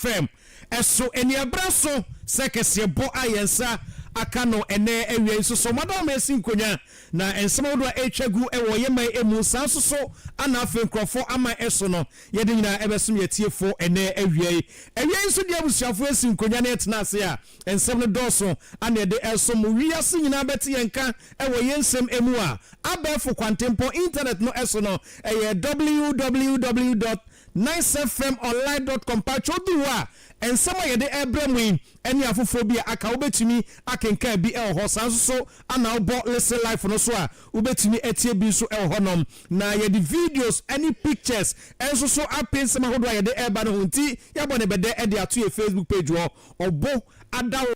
fam ɛso aniabra so sɛ kɛseɛbɔ a yɛn nsa aka no ɛnɛ awia yi nso so ɔmo adɔm esi nkonya na nsɛm ahodoɔ a ɛretwa gu ɛwɔ yɛn man emu saa nso so ana afei nkorɔfoɔ ama ɛso no Yɛde nyinaa bɛsom yɛn atiefo ɛnnɛ awia yi. Awia yi nso deɛ abusuafo asi nkonwa na ɛtena ase a nsɛm no dɔɔso a na ɛde ɛresom mo. Wiase nyinaa bɛte yɛn nka wɔ yɛn nsɛm mu a abɛɛfo kwantempɔn, internet no so no, ɛyɛ www dot nicefmonline dot com. Mpakyɛ odu hɔ a nsɛm a yɛde ɛrebrɛ mo yi ɛne afoforɔ bi a aka wobɛtumi akenkan bi wɔ hɔ. Saa nso so ana wobɔ Listen Life no so a Wobɛtumi atie bi nso wɔ hɔnom. Na yɛde videos ne pictures nso so ape nsɛm ahodoɔ a yɛde reba no ho nti yɛabɔ no bɛdɛ de ato yɛn Facebook page hɔ, Ɔbo Adaworo.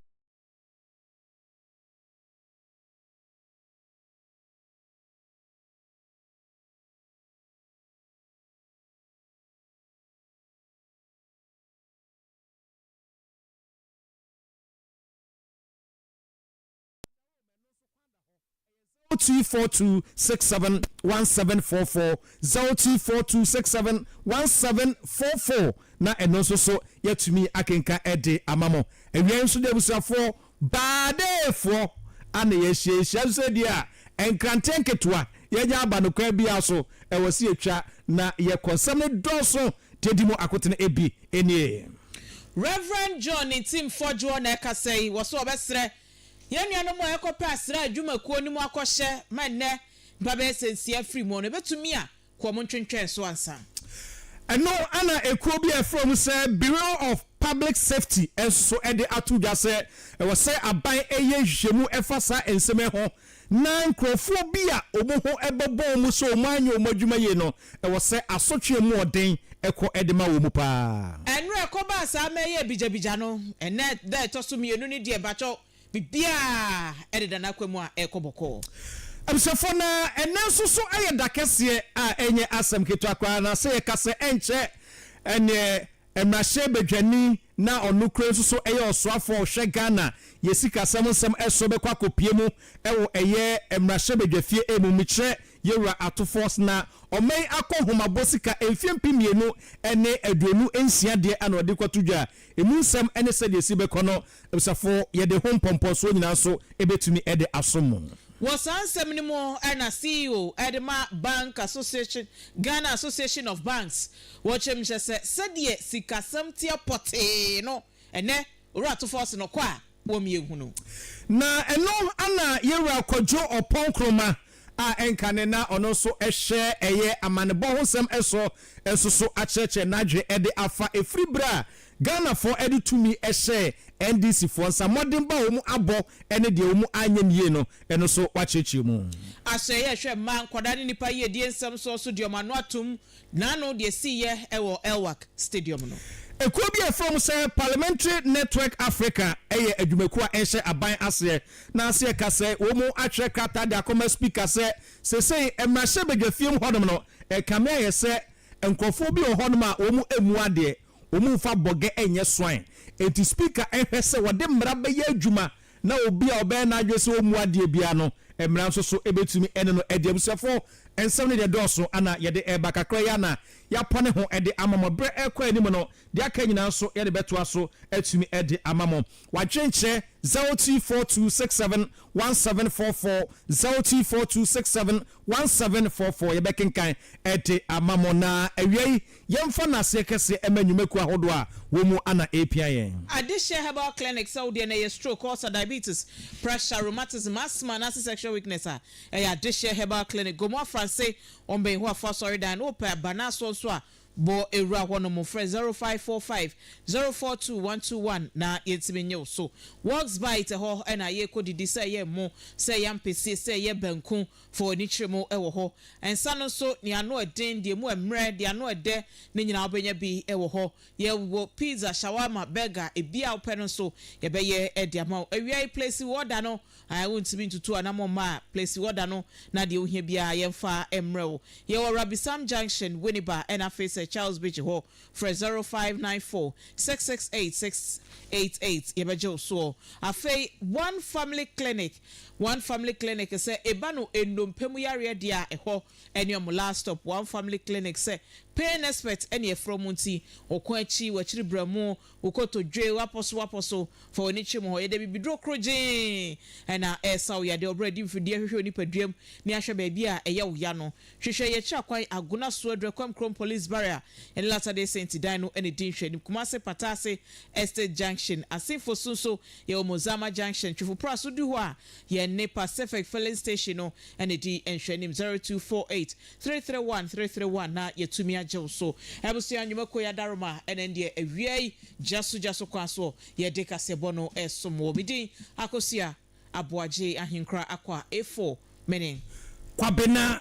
Zero two four two six seven one seven four four zero two four two six seven one seven four four na ɛno nso so yɛatumi akenka ɛde ama mo awia nso de abusuafoɔ baadeefoɔ ana yɛahyia yɛhyia nso sɛ deɛ a nkrante nketewa yɛanya aba no kwan biara so ɛwɔ sɛ yɛtwa na yɛkɔ nsɛm no dɔɔso deɛ di mu akotene ebi nie. Reverend John Ntim Fodjour na ɛkasa yi. Wɔso wɔbɛsrɛ Yɛn nuanom a wɔkɔpɛ asraa adwuma kuo no mu akɔhyɛ ma nnɛ mpa bɛyɛ sɛ nsia firi mu no, ɛbɛtumi a kɔ wɔn ntwentwɛn so ansa. Ɛno na ekuo bi a wɔfrɛ wɔn sɛ Bureau of Public Safety nso de ato dwa sɛ ɛwɔ sɛ aban yɛ nhwehwɛmu fa saa nsɛm yi ho na nkurɔfoɔ bi a wɔn ho bɛbɔ wɔn sɛ wɔn anyɛ wɔn adwuma yie no, ɛwɔ sɛ asotwe a emu wɔ den kɔ de ma wɔn pa ara. Ɛnora ɛkɔbaa saa ma ɛyɛɛ bigyabigya no, ɛnnɛ da a ɛtɔ so mmienu no deɛ mpakyɛw biribiara deda n'akwan mu a ɛrekɔ bɔkɔɔ. Abusuafoɔ, na ɛnnɛ nso so ɛyɛ da kɛseɛ a ɛnyɛ asɛm ketewa koraa, na sɛ yɛka sɛ ɛnkyɛ ɛnneɛ Mmarahyɛbadwani na ɔno kura nso so yɛ ɔsoafo a ɔhwɛ Ghana yɛ sikasɛm nsɛm so bɛkɔ akɔpue mu wɔ ɛyɛ mmarahyɛbadwafie mu mekyerɛ yɛwura Ato Force na ɔma yi akɔ nhomabɔ sika mfeɛ mpem mmienu ne aduonu nsia deɛ na ɔde rekɔto dwa ɛmu nsɛm ne sɛdeɛ ɛsi bɛkɔ no abisafo yɛde ho mpɔmpɔnsoɔ nyinaa nso bɛtumi de aso mo. Wɔ saa nsɛm no mu na CEO de ma Bank Association, Ghana Association of Banks, Wɔkyerɛm hyɛ sɛ sɛdeɛ sikasɛm teɛ pɔtee no ɛnɛ Owura to fɔs no kɔ a wɔm yɛ hunu. Na ɛno ana yɛn Wura Kwadwo Ɔpɔn Nkrumah a ɛnka ne na ɔno nso hyɛ ɛyɛ amanebɔ ho nsɛm so nso so akyerɛkyerɛ n'adwene de afa ɛfiri berɛ a Ghanafoɔ de tumi hyɛɛ NDC foɔ nsa mmɔden ba a wɔn abɔ ne deɛ wɔn anyɛ no yie no ɛno nso wakyerɛkyerɛ mu. Ahyɛ yɛ hwɛ mma nkwadaa ne nnipa yiedie nsɛm soɔ so deɛ wɔn ano atom N'ano deɛ ɛsiiɛ wɔ Elwak Stadium no. Ekuo bi a yɛfrɛ wɔn sɛ Parliamentary Network Africa yɛ adwumakuo a ɛnhyɛ aban aseɛ na sɛ yɛka sɛ wɔn atwerɛ krataa de akɔma Speaker sɛ seesei mmarahyɛbadwafie mu hɔnom no ɛkame ayɛ sɛ nkorɔfoɔ bi wɔ hɔnom a wɔn mmu adeɛ, wɔn mfa bɔgɛ nyɛ swan, enti Speaker nhwɛ sɛ wɔde mmara bɛyɛ adwuma na obi a ɔbɛyɛ n'adwene sɛ ɔmmu adeɛ biara no, mmara nso so bɛtumi ne no adi. Abusuafoɔ, nsɛm no deɛ dɔɔso, ana yɛde reba kakra yi ara na yɛapɔne ho de ama mo. Berɛ rekɔ anim no, deɛ aka nyinaa nso yɛde bɛtoa so atumi de ama mo. W'adwenkyerɛ, zero two four two six seven one seven four four, zero two four two six seven one seven four four, yɛbɛkenkan de ama mo. Na awia yi, Yɛmfa nnaseɛ kɛseɛ ɛma nnwumakuo ahodoɔ a wɔ mu ana ɛrepia yɛn. Adehyeɛ Herbal Clinic sɛ wo deɛ no ɛyɛ stroke, ulcer, diabetes, pressure, rheumatism, asthma anaase sexual weakness a, ɛyɛ Adehyeɛ Herbal Clinic, Gomoa Franse, wɔn bɛn Yehowa fo asɔredan no, wopɛ abanaasoɔ nso a, bɔ awura hɔ nom, frɛ 0545 042 121 na yɛntumi nye wo so. Walks Bite ɛhɔ na yɛrekɔ didi sɛ ɛyɛ ɛmo, sɛ ɛyɛ ampesie, sɛ ɛyɛ banku, Fa w'ani kyerɛ mu wɔ hɔ. Nsa no nso, nea ano yɛ den, deɛ emu yɛ mmerɛ, deɛ ano yɛ dɛ, ne nyinaa wobɛnya bi wɔ hɔ. Yɛwɔ pizza, shawarma, burger, ebi a wopɛ no nso yɛbɛyɛ de ama wo. Awia yi plesi wo ɔda no, ae wontumi ntutu anammɔn mma a, plesi w'ɔda no na deɛ wohia biara yɛmfa mmrɛ wo. Yɛwɔ Rabisam Junction, Winneba ɛna afei Sir Charles Bigye hɔ. Frɛ 0594 668 688 yɛbɛgye wo soɔ. Afei One Family Clinic, One Family Clinic sɛ eba no nnompe mu yareɛ deɛ a ɛhɔ ɛne ɔmo last stop One Family Clinic sɛ pain expert ɛne ɛfrɛ ɔmo nti ɔko akyi wakyiri brɛmo wo kotodwe wapɔ so wapɔ so fa w'ani kyerɛ mu hɔ yɛde abibiduro krogyee na ɛresa wo yadeɛ ɔbrɛ di mfidie hwehwɛ wo nipaduam ne ahwɛ baabi a ɛyɛ wo ya no hwehwɛ yɛ akyira kwan Agona Suo Aduru Akwam Krom Police Barrier ɛne Latter Day Saint dan no ɛna ɛdi nhwɛanim Kumase Pataase Estate Junction Asenfo so nso Yɛwɔ Mozama Junction, Twifopra so du hɔ a, yɛn ne Pacific Filling Station no na ɛdi nhwɛanim, zero two four eight, three three one, three three one na yɛatumi agye wo so. Abusua Nnwuma Kuo Yadaroma na ɛndeɛ awia yi gyaso gyaso kwan soɔ yɛde kaseɛbɔ no resom wo. Me din Akosua Aboagye Ahenkura Akwa A4 Mene. Kwabena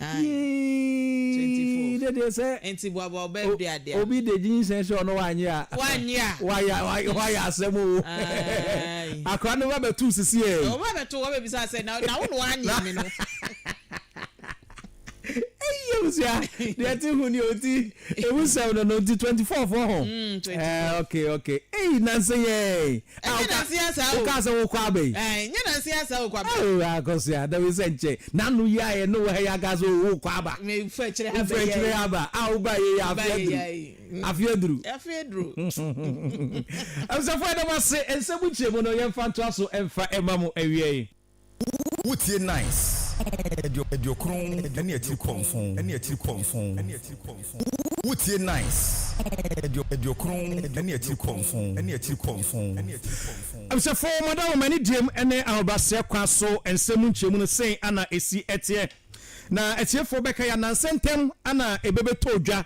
Yii de deɛ sɛ obi de gyinsɛn sɛ ɔno wanyɛ a wayɛ asɛm o akora no ba bɛto sisi ɛ ɛyi abusua deɛ te ho ni oti ewu sɛm no no nti twenty four fo ho ɛɛ ok ok eyi nansa yɛn Ah, Ɛnyɛ nanse woka, asaa o. wokaa sɛ wokɔ aba yi? Ae, ɛnyɛ nanse asaa o, kɔ aba. Oh, akɔsoa, na wei sɛ nkyɛ, n'ano yi ayɛ ne wɔ ha yi akaa sɛ oh, wokɔ aba. Me fa akyire ha Wofa bɛyɛ akyire ae. ha ba, ah, woba ayɛ yi a, afe Woba ayɛ yi aduru. ae. Mm, Afe aduru. afe aduru. Abusuafoɔ yɛda mo ase, nsɛm nkyerɛmu no yɛmfa ntoa so mfa mma mo awieɛ. Wotie nice aduokron ne atirimpɔnfon ne atirimpɔnfon Wotie nice aduokron ne atirimpɔnfon ne atirimpɔnfon Abusuafo mo ada wɔ m'anigyem ne ahobrɛaseɛ kwan so nsɛm mu nkyerɛmu no sei ana ɛsi teɛ Na atiefoɔ bɛka yi a nansɛ ntɛm ana ɛbɛbɛtɔ dwa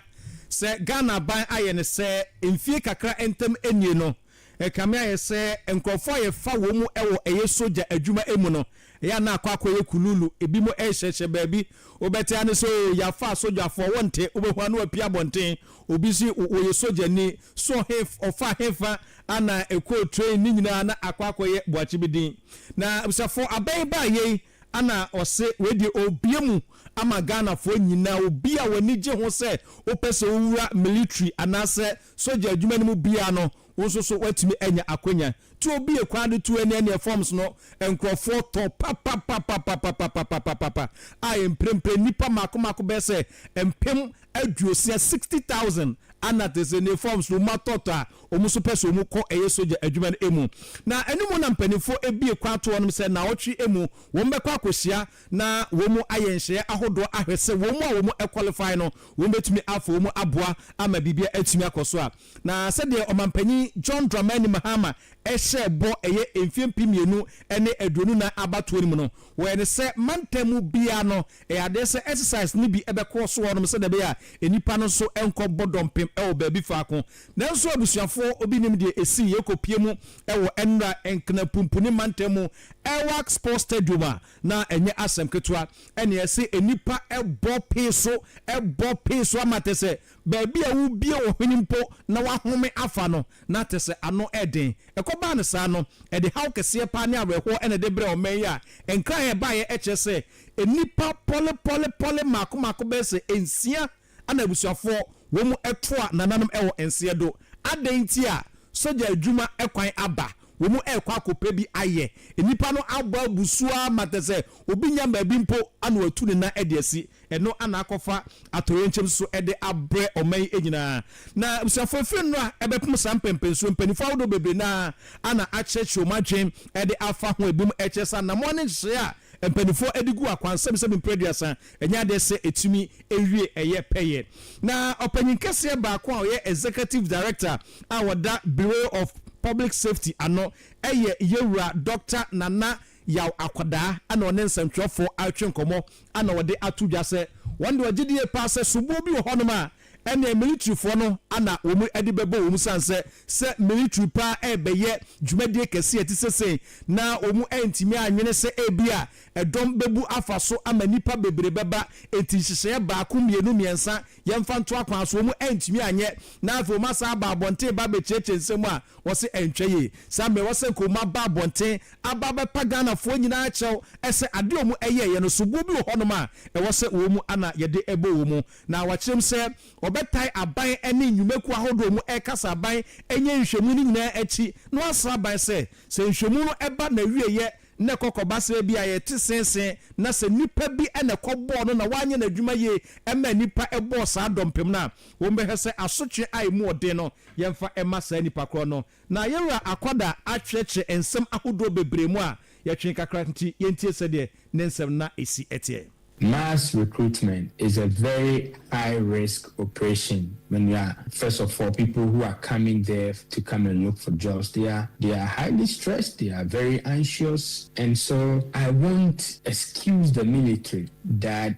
sɛ Ghana aban ayɛ no sɛ mfie kakra ntam nie no Ɛkame ayɛ sɛ nkurɔfo a yɛfa wɔn mu wɔ ɛyɛ sogya adwuma mu no, ɛyɛ a na akɔ akɔyɛ kuluulu. Ebinom rehyɛhyɛ baabi. Wobɛte ara ne sɛ, 'Oo, yɛafa asogyafoɔ. Wonte? Wobɛhu a na wɔapue abɔnten. Obi nso yi, 'Wɔyɛ sogyani. So he, ɔfaa hefa na ɛkɔɔ train? Ne nyinaa na akɔ akɔyɛ boakye bi din. Na abusafo aba yi baeɛ yi, na wɔse, 'Wei deɛ ɔrebue mu ama Ghanafoɔ nyinaa. Obi a w'ani gye ho sɛ wopɛ sɛ wowura military anaasɛ sogya adwuma no mu biara no, wo nso so woatumi anya akwanya. Tu obi a kwan de tu ania nia forms no nkurɔfoɔ tɔ papapapapapapapapapapa a mprempren nnipa mmaako mmaako bɛyɛ sɛ mpem aduosia, sixty thousand, ana te sɛ nie forms no wɔatɔtɔ a wɔn nso pɛ sɛ wɔn kɔ ɛyɛ sogya adwuma no mu. Na ɛno mu na mpanimfoɔ abue kwan ato wɔnom sɛ nnawɔtwe mu wɔn bɛkɔ akɔhyia na wɔn ayɛ nhyehyɛeɛ ahodoɔ ahwɛ sɛ wɔn a wɔn qualify no wɔn bɛtumi afa wɔn aboa ama biribiara atumi akɔ so a. Na sɛdeɛ Ɔmanpanin John Dramani Mahama hyɛɛ bɔ ɛyɛ mfeɛ mpem mmienu ne aduonu nnan abatoɔ no mu no, wɔyɛ no sɛ mantam mu biara no ɛyɛ adeɛ sɛ exercise no bi bɛkɔ so hɔnom sɛdeɛ ɛbɛyɛ a nnipa no nso nkɔbɔ dɔmpem wɔ baabi faako. Nanso abusuafoɔ, obi nim deɛ ɛsii, yɛkɔpue mu wɔ Nnura Nknapumpuni mantam mu Airwax Sports Stadium a, na ɛnyɛ asɛm ketewa. Ɛnna ɛse nnipa bɔ pee so, bɔ pee so ama te sɛ baabi a wobue wo hwene mpo na woahome afa no, na te sɛ ano yɛ den. Ɛkɔbaa no saa no, ɛde haw kɛseɛ paa ne awerɛhoɔ na ɛde brɛɛ ɔman yi a nkran a ɛbaeɛ kyerɛ sɛ nnipa pɔlepɔlepɔle mmaako mmaako bɛyɛ sɛ nsia na abusuafoɔ wɔn toa nananom wɔ nseɛ do. Adɛn nti a sogya adwuma kwan aba? Wɔn rekɔ akɔpɛ bi ayɛ. Nnipa no abɔ abu so ara ma te sɛ obi nya baabi mpo na watu ne nan de asi. Ɛno na akɔfa atoyerɛnkyɛm so de abrɛ ɔman yi nyinaa. Na abusuafoɔ, ɛfiri nnora a ɛbɛpem saa mpɛnpɛnsoɔ yi, mpanimfoɔ ahodoɔ bebree no ara na akyerɛkyerɛ wɔn adwene de afa ho. Ebinom kyerɛ sɛ anammɔn ne nhyehyɛeɛ a mpanimfoɔ de gu akwansɛbsɛm mprɛ aduasa Ɛnyɛ adeɛ sɛ ɛtumi wie ɛyɛ pɛyɛ. Na ɔpanyin kɛseɛ baako a ɔyɛ Executive Director a ɔda Bureau of Public Safety ano yɛ Yɛwura Dɔkta Nana Yaw Akwadaa ɛna ɔne nsɛntwerɛfoɔ atwe nkɔmmɔ ɛna ɔde ato dwa sɛ wɔn deɛ ɔgye die paa sɛ soboɔ bi wɔ hɔnom a Ɛneɛ militirifoɔ no ana wɔn de bɛbɔ wɔn sane sɛ sɛ militiri paa ɛrebɛyɛ dwumadie kɛseɛ a ɛte sɛ sei na wɔn antumi anwene sɛ ebia ɛdɔm bɛbu afa so ama nnipa bebree bɛba enti nhyehyɛeɛ baako mmienu mmiɛnsa yɛmfa nto akwan so wɔn antumi anyɛ na afei wɔn asan aba abɔnten ba abɛkyiakyia nsɛm a wɔse ɛntwa yie saa mmerɛ wɔse nka wɔn aba abɔnten aba abɛpa Ghanafoɔ nyinaa kyɛw sɛ adeɛ a wɔn ɛyɛeɛ no soboɔ bi wɔ hɔnom a ɛwɔ sɛ wɔn ana yɛde bɔ wɔn Na wakyerɛ mu sɛ wɔbɛtae aban ne nnwumakuo ahodoɔ mu rekasa aban nyɛ nhwɛmu no nyinaa akyi na wɔasra aban sɛ, sɛ nhwɛmu no ba n'awieɛ na ɛkɔ kɔbasra bi a yɛte seesee na sɛ nipa bi na ɛkɔbɔɔ no na wanyɛ n'adwuma yie ɛmaa nipa bɔɔ saa dɔmpem no a, wɔbɛhwɛ sɛ asotwe a ɛmu ɔden no yɛmfa mma saa nipa korɔ no. Na yɛn Wura akwada atwerɛkyerɛ nsɛm ahodoɔ bebree mu a yɛtwee kakra nti yɛntie sɛdeɛ ne nsɛm na ɛsi teɛ. Mass recruitment is a very high risk operation when you are first of all people who are coming there to come and look for jobs they are they are highly stressed they are very anxious and so I won't excuse the military that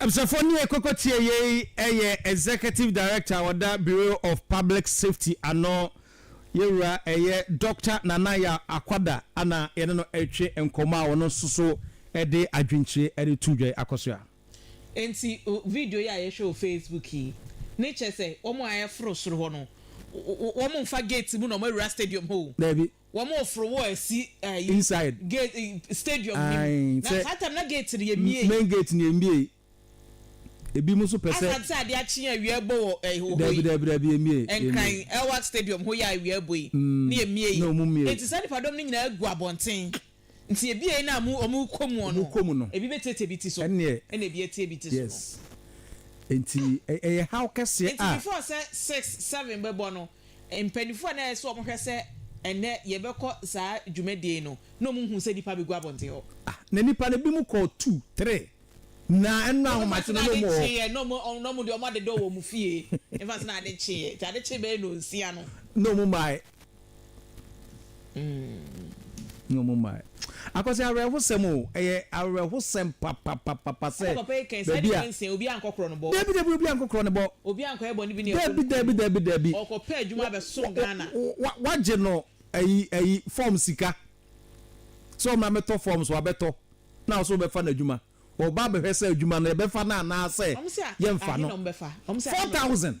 Abusuafoɔ nie kɔkɔ tie yei ɛyɛ Executive Director a ɔda Bureau of Public Safety ano yɛwura ɛyɛ Doctor Nana Yaw Akwada ana yɛne no ɛretwe nkɔmmɔ a ɔno nso so ɛde adwenkyire ɛde tu dwa yi akɔsoa. Enti video yi a yɛhwɛ wɔ Facebook yi ne kyerɛ sɛ wɔn a ɛforo soro hɔ no wɔn mfa gate mu na wɔn awura stadium hɔ o. Daabi. wɔn oforo wɔ ɛsi ɛyi. Inside. Gate ɛyi stadium ni mu. Ae sɛ. Na saa time na gate no yɛ mie. Main gate no yɛ mie. Ebi mo nso pɛ sɛ. Asa te sɛ adeɛ akye a awia ɛbɔ wɔ ɛyi wɔ hɔ yi. Dabi dabi dabi yɛ mie. Nkran ɛwɔ stadium hɔ yi a awia ɛbɔ yi. Mm ne yɛ mie. Na ɔmo mie. Eti saa nipa dɔm no nyinaa gu abɔnten. Nti ebia ɛyi no a mo, wɔn rekɔ mu no, wɔrekɔ mu no, ebi bɛtiatia ebi ti so, ɛnneɛ, ɛna ebi atia ebi ti so no. yes, enti ɛ, ɛyɛ haw kɛseɛ Nti a. before sɛ six, seven bɛbɔ no, mpaninfoɔ a na ɛyɛ sɛ wɔhwɛ sɛ ɛnnɛ yɛbɛkɔ saa dwumadie no, na wɔn hu sɛ nnipa abɛgu abɔnten hɔ. Ah, na nnipa no, ebinom kɔɔ two, three, na ɛno no Wɔbɛfa ahomakye sɛ no na na ade wɔn wɔ. kyeeɛ, na wɔn, na wɔn deɛ wɔadeda wɔn fie, wɔbɛfa sɛ na ade kyeeɛ, nti ade kyee bɛyɛ nnɔnsia no. Na wɔn maa na ɔmo mmae. Akwasi awerɛhosɛm o, ɛyɛ awerɛhosɛm papapapapa sɛ baabi a, daabi daabi obi ankɔ korɔ ne bɔ, daabi daabi daabi daabi, wagye no ayi ayi fɔm sika sɛ ɔmra mɛtɔ fɔm so wabɛtɔ na ɔso bɛfa no adwuma, ɔba abɛhwɛ sɛ adwuma no yɛbɛfa no anaasɛ yɛnfa no, four thousand.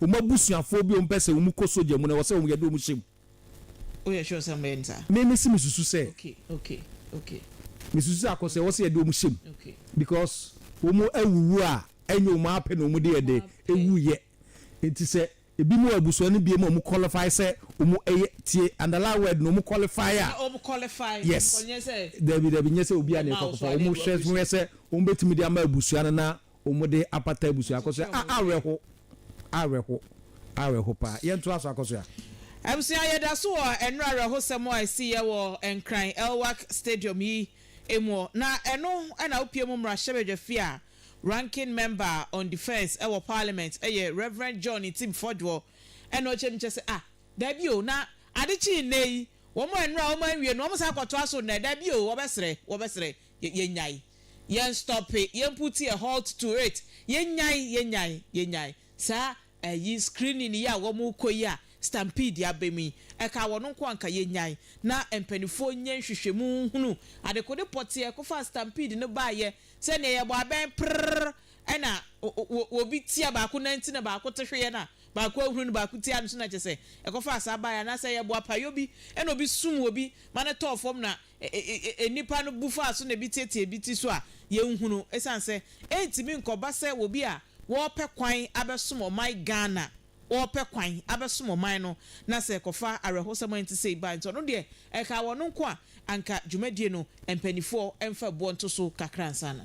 wɔn abusuafoɔ bi a wɔpɛ sɛ wɔn kɔ sogya mu no ɛwɔ sɛ wɔn yɛde wɔn hyɛ mu. Woyɛ sure sɛ wɔbɛyɛ no saa? Me me se me susu sɛ. Okay okay okay. Me susu sɛ akɔ sɛ ɛwɔ sɛ yɛde wɔn hyɛ mu okay. Because wɔn awuwu a ɛnyɛ wɔn ara pɛ na wɔn de yɛ dɛ ɛwu yɛ nti sɛ ebi mu wɔ abusua no biem a wɔn qualify sɛ wɔn ɛyɛ tie underline word no wɔn qualify a. Sɛ wɔn qualify yes. Nyɛ sɛ. Dabi dabi nyɛ sɛ obi a na ɛkɔ akɔfa wɔn hwɛ hwɛ sɛ wɔn bɛtumi de ama abusua no na Wɔde apata abusua akɔsoɛ a awerɛho awerɛho awerɛho paa yɛn toa so akɔsoɛ a. Abusua yɛda so wɔ ɛnora awerɛhosɛm a ɛsi yɛ wɔ Nkran Elwak Stadium yi mu na ɛno na wopie mu mmarahyɛbadwafi a Ranking Member on Defence ɛwɔ Parliament ɛyɛ Rev John Ntim Fodwo ɛna ɔkyɛ mu kyɛ sɛ ah daabi o na ade kyee nnɛ yi wɔn ɛnora wɔn anwie no wɔn san kɔtoa so nnɛ daabi o wɔbɛsrɛ wɔbɛsrɛ Yɛ, yɛnyae. Yɛn stɔpe, yɛn puti ɛ, halt to it. Yɛnyae, yɛnyae, yɛnyae. Saa ayi, screening yi a wɔn rekɔ yi a stampede aba mu yi, ɛkaa wɔn nko anka. Yɛnyae. Na mpaninfoɔ nyɛ nhwehwɛmu nhunu adekode pɔtee a ɛkɔfaa stampede no baeɛ, sɛ nea yɛbɔ abɛn prrrr ɛna o, o, obi tia baako nan ti na baako te hweɛ na baako ahunu no baako ti ano so na kyerɛ sɛ ɛkɔfaa saa baeɛ, anaasɛ yɛbɔ apayɔ bi ɛna obi sum obi ma no tɔɔ fam na ɛ-ɛ-ɛ-ɛ-ɛ nnipa no bu faa so na ebi teetee ebi ti so a, yɛnhunu esiane sɛ ɛntumi nkɔba sɛ obi a wɔrepɛ kwan abɛsom ɔman Ghana, wɔrepɛ kwan abɛsom ɔman no na sɛ ɛkɔfa awerɛhosɛm a ɛnte sei ba nti ɔno deɛ ɛkaa wɔn nko a, anka dwumadie no mpaninfoɔ mfa boɔ nto so kakra ansa na.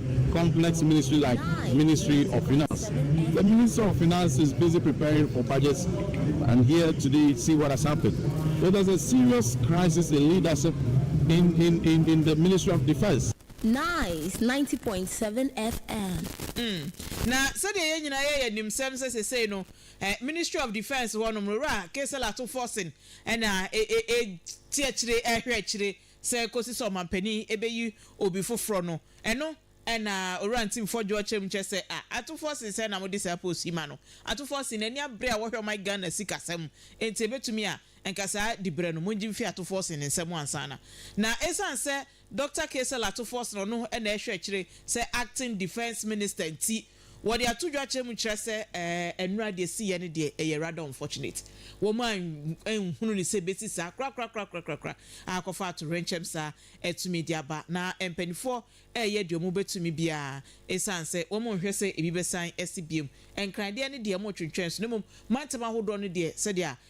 Complex ministry like ministry of finance the minister of finance is busy preparing for budget and here today see what has happened so there's a serious crisis in leadership in in in in the ministry of defence. Nice ninety point seven FM. Mm, na sɛdeɛ yɛn nyinaa yɛ yɛ nim sɛm sɛ sesei no eh, Ministry of Defence hɔ nom no Wura Kesel Ato Forson ɛna ɛteɛkyire ɛhwɛ akyire sɛ kosi sɛ ɔmanpanin bɛyi obi foforɔ no, ɛno na Owura Ntimfoɔ Dwoɔ kyerɛ mu kyerɛ sɛ a Atufoɔ se sɛn na mode saa post yi ma no? Atufoɔ se n'ani abere a wɔhwɛ ɔman Ghana sikasɛm nti ɛbɛtumi a nka saa diberɛ no mongye mfiri Atufoɔ se ne nsam ansa na na ɛsiane sɛ Doctor Caesar Atufoɔ se ɔno na ɛhwɛ akyire sɛ Acting Defence Minister nti Wɔde ato dwa kyerɛ mu kyerɛ sɛ ɛɛ nnora deɛ siiɛ no deɛ ɛyɛ rather unfortunate. Wɔn an anhunu no sɛ ɛbɛsi saa korakorakorakorakora a kɔfa atowerɛnkyɛm saa ɛtumi de aba. Na mpanifoɔ ɛɛyɛ deɛ wɔn bɛtumi biara ɛsiane sɛ wɔn nhwɛ sɛ ɛbi bɛsan ɛsi biom. Nkran deɛ no deɛ wɔn twentwɛn so na mmom mantam ahodoɔ no deɛ sɛdeɛ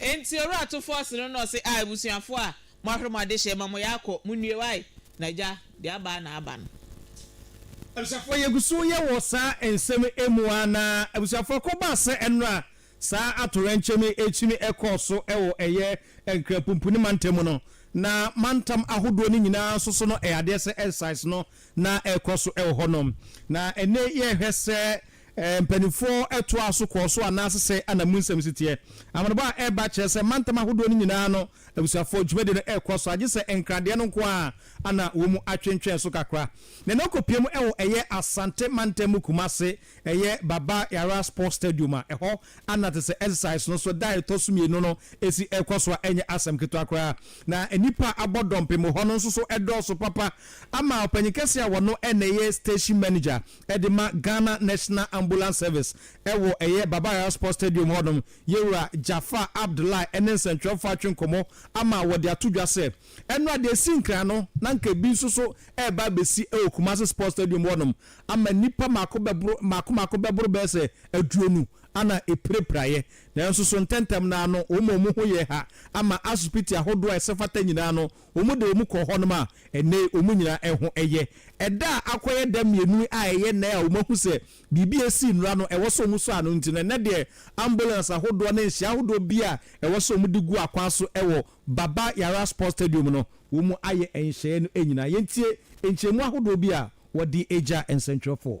Enti owura to fɔs no na ɔse ah abusuafoɔ a moahwere mo adehyeɛ ma mo yaakɔ mo nnue wae na gya deɛ aba ara na aba no. Abusuafoɔ yɛgu so yɛ wɔ saa nsɛm mu ara na abusuafoɔ ko baa sɛ ɛnora a saa atoyerɛnkyɛm yi ɛkyimi ɛkɔɔ so wɔ ɛyɛ Nkranpumpuni mantam mu no na mantam ahodoɔ no nyinaa nso so no ɛyɛ adeɛ sɛ exercise no na ɛkɔ so wɔ hɔ nom na ɛnɛ yɛhwɛ sɛ Mpanimfoɔ toaa so kɔɔ so anaase sɛ ana mu nsɛm si teɛ. Amanebɔ a ɛreba kyerɛ sɛ mantam ahodoɔ no nyinaa no abusuafoɔ dwumadie no rekɔ so agye sɛ nkradeɛ no nko ara ana wɔ mu atwentwɛn so kakra. Nea na ɔkɔpie mu wɔ ɛyɛ Asante mantam mu Kumase ɛyɛ Baba Yara Sports Stadium a ɛhɔ ana te sɛ exercise no so da a ɛtɔ so mmienu no si rekɔ so a ɛnyɛ asɛm ketewa koraa na nnipa a abɔ dɔmpem wɔ hɔ no nso so dɔɔso papa ama ɔpanyin kɛseɛ a wɔno na ɛyɛ station manager de ma Ghana National Ambulance Service wɔ ɛyɛ Baba Yara Sports Stadium hɔ nom, Yɛwura Jaafar Abdullahi ne nsɛnkyerɛwfo atwe nkɔmmɔ ama wɔde ato dwa sɛ, ɛnora deɛ ɛsii nkran no na nka ɛbi nso so reba abɛsi wɔ Kumasi Sports Stadium hɔ nom ama nnipa mako bɛboro mako mako bɛboro bɛyɛ sɛ aduonu ana ɛpirapiraeɛ nanso so ntɛntɛm no ara no wɔn a wɔn ho yɛɛ ha ama asopiti ahodoɔ a ɛsɛ fata nyinaa no Wɔde wɔn kɔɔ hɔnom a ɛnnɛ yi wɔn nyinaa ɛho yɛ. Ɛda a akɔyɛ da mmienu a ɛyɛ nnɛ a wɔahu sɛ biribi a ɛsii nnora no ɛwɔ sɛ wɔsua no nti no, ɛnnɛ deɛ ambulance ahodoɔ ne nhyɛ ahodoɔ biara a ɛwɔ sɛ wɔde gu akwan so wɔ Baba Yara Sports Stadium no, wɔayɛ nhyɛeɛ no nyinaa. Yɛntie nkyerɛmu ahodoɔ bi a wɔde gyaa nsɛntwerɛfoɔ.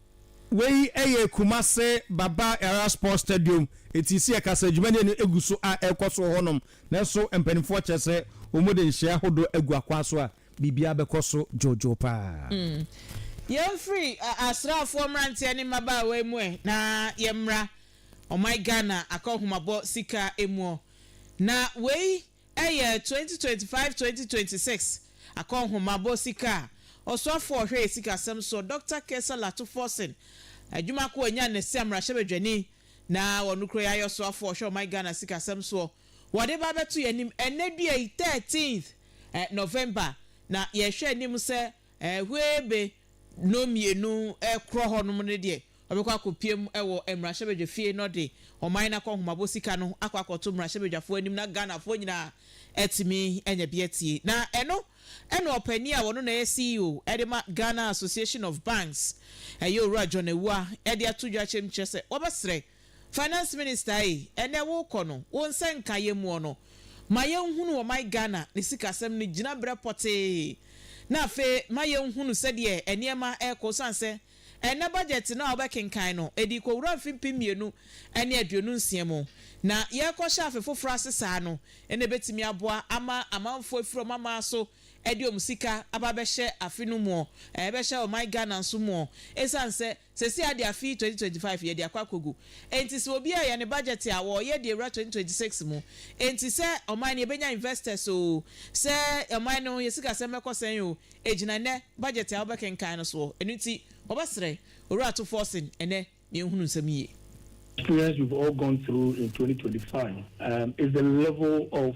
Wei yɛ Kumase Baba Yara Sports Stadium, eti sɛ yɛka sɛ dwumadi a ɛno gu so a ɛrekɔ so wɔ hɔnom, nanso mpanimfoɔ kyerɛ sɛ wɔde nhyehyɛe ahodoɔ agu akwan so a, biribiara bɛkɔ so dwoodwoo pa ara. Yɛmfiri asraafoɔ mmeranteɛ ne mmabaawa yi mu ɛ, na yɛmmra ɔman Ghana akɔnhomabɔ sika mu ɔ, na wei Ɛyɛ twenty twenty five twenty twenty six akɔnhomabɔ sika a Ɔsoafoɔ a ɔhwɛ Sikasɛm soɔ Doctor Kesa Lato Forson adwuma ko anya no sɛ Mmarahyɛbadwani na ɔno kura yɛayɛ Ɔsoafoɔ a ɔhwɛ Ɔman Ghana Sikasɛm soɔ wɔde ba abɛto yɛn anim ɛnnɛ dua yi thirteenth November na yɛhwɛ anim sɛ Ɛhɔɛɛ be no mmienu korɔ hɔ nom no deɛ, ɔbɛkɔ akɔpiem wɔ mmarahyɛbadwa fie na ɔde ɔman no akɔnhomabɔ sika no akɔ akɔto mmarahyɛbadwafoɔ anim na Ghanafoɔ nyinaa atumi anya bi atie. Na ɛno na ɔpanin a ɔno na ɛyɛ CEO de ma Ghana Association of Banks, ɛyɛ Owura John Awuah de ato dwa akyerɛ mu kyerɛ sɛ wɔbɛsrɛ Finance minister ei ɛnɛ wokɔ no wo nsa nka yɛmmuɔ no ma yɛnhunu ɔman Ghana ne sikasɛm no gyinabrɛ pɔtee na afei ma yɛnhunu sɛdeɛ ɛneɛma ɛrekɔ osiane sɛ ɛnɛ budget no a wobɛkenkan no ɛdi kɔwura mfe mpem mmienu ne aduonu nsia mu na yɛrekɔhyɛ afe foforɔ ase saa no na ɛbɛtumi aboa ama amanfoɔ afiri wɔn aman so de wɔn sika aba abɛhyɛ afe no muɔ ɛbɛhyɛ ɔman Ghana nso muɔ ɛsiane sɛ Sɛsi ara de afe yi 2025 yɛde akɔ akɔgu enti sɛ obiara yɛ ne budget a wɔreyɛ de awura 2026 mu enti sɛ ɔman no yɛbɛnya investors oo, sɛ ɔman no yɛ sikasɛm bɛkɔ sɛn oo ɛgyina nnɛ budget a wobɛkenkan no soɔ ɛno nti wɔbɛsrɛ Owura to forcing ɛnɛ na yɛnhunu nsɛm yie. Experience we've all gone through in 2025 um is the level of.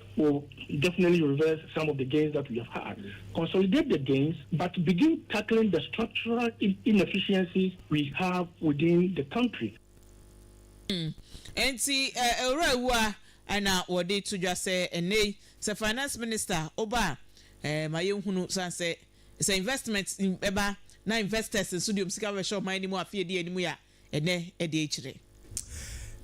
We'll definitely reverse some of the gains that we have had, consolidate the gains but begin tackling the structural inefficiencies we have within the country. Enti Owura Awuah na wɔde to dwa sɛ ɛnnɛ yi sɛ Finance Minister ɔba a, ma yɛnhunu sane sɛ sɛ investment bɛba na investors nso de wɔn sika bɛbɛhyɛ ɔman no mu afe a ɛdi anim yi a, ɛnnɛ ɛde akyire.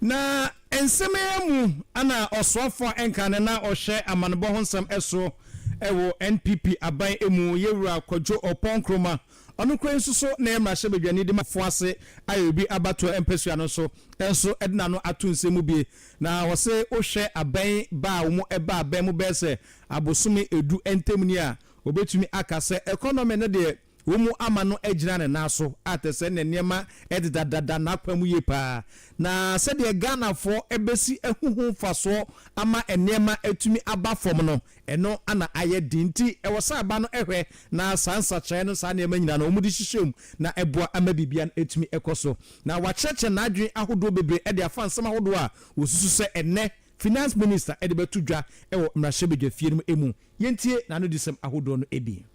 Na nsɛm yi ara mu na ɔsoafo a ɛnka no na ɔhwɛ amanebɔ ho nsɛm so wɔ NPP aban mu, Yɛwura Kwadwo Ɔpɔn Nkrumah, ɔno koraa yi nso so ne mmarahyɛbadwani Dimafo ase ayɛ obi abatoɔ mpasua no nso nso de n'ano ato nsɛm mu bie. Na wɔse wohwɛ aban yi ba a wɔn ɛba abɛn mu bɛyɛ sɛ abosome ɛdu ntam ni a, wɔbɛtumi aka sɛ economy no deɛ, Wɔmu ama no agyina ne nan so a te sɛ ne nneɛma deda dada n'akwan mu yie paa. Na sɛdeɛ Ghanafoɔ bɛsi ahu ho mfasoɔ ama nneɛma atumi aba fam no, ɛno na ayɛ den. Nti ɛwɔ sɛ aba no hwɛ na saa nsakyeraɛ no, saa nneɛma nyinaa no, wɔde hyehyɛ mu na ɛboa ama biribiara atumi kɔ so. Na wakyerɛkyerɛ n'adwene ahodoɔ bebree de afa nsɛm ahodoɔ a wɔsusu sɛ ɛnnɛ Finance Minister de bɛto dwa wɔ mmarahyɛbadwafie no mu mu. Yɛntie n'anodisɛm ahodoɔ no bi.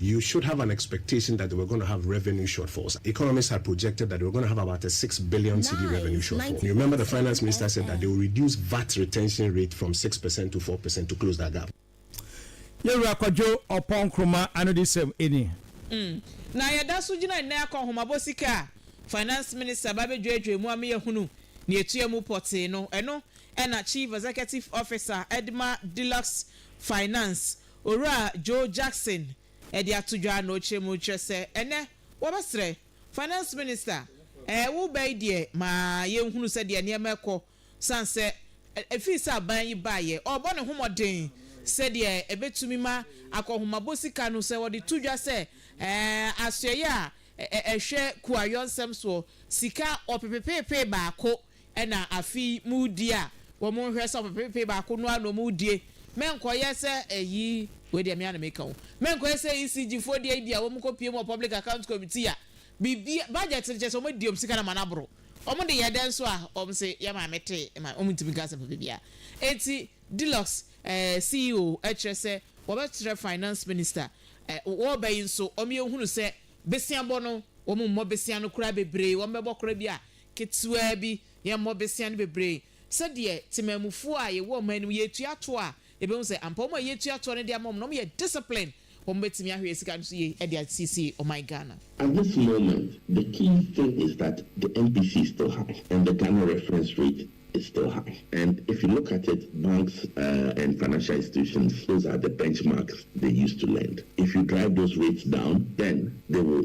You should have an expectation that they were gonna have revenue shortfalls. Economists had projected that they were gonna have about a six billion cedi revenue shortfall. You remember the finance minister said that they will reduce vat retention rate from six percent to four percent to close that gap. Yɛn Wura Kwadwo Ɔpɔn Nkrumah Anodisɛm ni. Mm, na yɛda so gyina nnɛ akɔ nhomabɔ sika a Finance Minister ba bɛdwɛɛdwɛɛ mu ama yɛahunu nea ɛtua mu pɔtee no. Ɛno na Chief Executive Officer de ma Deluxe Finance Owura Joe Jackson de ato dwa na ɔkyerɛ mu kyerɛ sɛ ɛnnɛ wɔbɛsrɛ Finance Minister ɛɛ wo bɛ yi deɛ ma yɛnhunu sɛ deɛ nneɛma ɛkɔ sane sɛ ɛfiri sɛ aban yi baeɛ ɔrebɔ ne ho mmɔden sɛ deɛ ɛbɛtumi ma akɔnhomabɔ sika no sɛ wɔde to dwa sɛ ɛɛ asoɛeɛ a ɛhwɛ kuayɔnsɛm soɔ sika ɔpepepeepee baako Ɛna afei moredi a wɔn nhwɛ sɛ ɔpepepe baako no ara na wɔn redie. Mɛnkɔyɛ sɛ ɛyi, wei deɛ me ara na meka o, mɛnkɔyɛ sɛ ECG foɔ deɛ ebia wɔn kɔ pie mu wɔ public account committee a, biribi, budget no kyerɛ sɛ wɔn adi wɔn sika no ama no aboro. Wɔn de yɛ dɛn nso a, wɔn se yɛ maame te ma wɔn ntumi nka asɛm papa biara. Enti Dulux eh, CEO kyerɛ sɛ wɔbɛkyerɛ finance minister eh, wɔba yi nso wɔn yɛ nhunu sɛ besia bɔ no wɔn mmɔ besia no koraa bebree, wɔn bɛbɔ koraa bi a ketewaa bi, yɛmmɔ bosea no bebree. Sɛdeɛ temanmufoɔ a yɛwɔ ɔman no mu, yɛretua toɔ a, yɛbɛhu sɛ ampa wɔn a yɛretua toɔ no de ama wɔn no, wɔyɛ disciplined. Wɔbɛtumi ahwɛ sika no so yie de asiesie ɔman Ghana. At this moment, the key thing is that the MPC is still high and the Ghana reference rate is still high and if you look at it, banks and financial institutions, those are the benchmarks they use to lend. If you drive those rates down, then they will.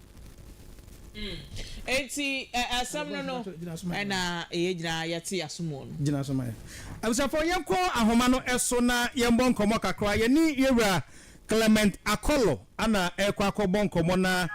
Enti asɛm no no na yɛn nyinaa yɛte yɛn aso mu no. Gyina so ma yɛn. Abusuafoɔ, yɛnkɔ ahoma no so na yɛmmɔ nkɔmmɔ kakra. Yɛne Yɛwura Clement Akolo na ɛrekɔ akɔbɔ nkɔmmɔ. Na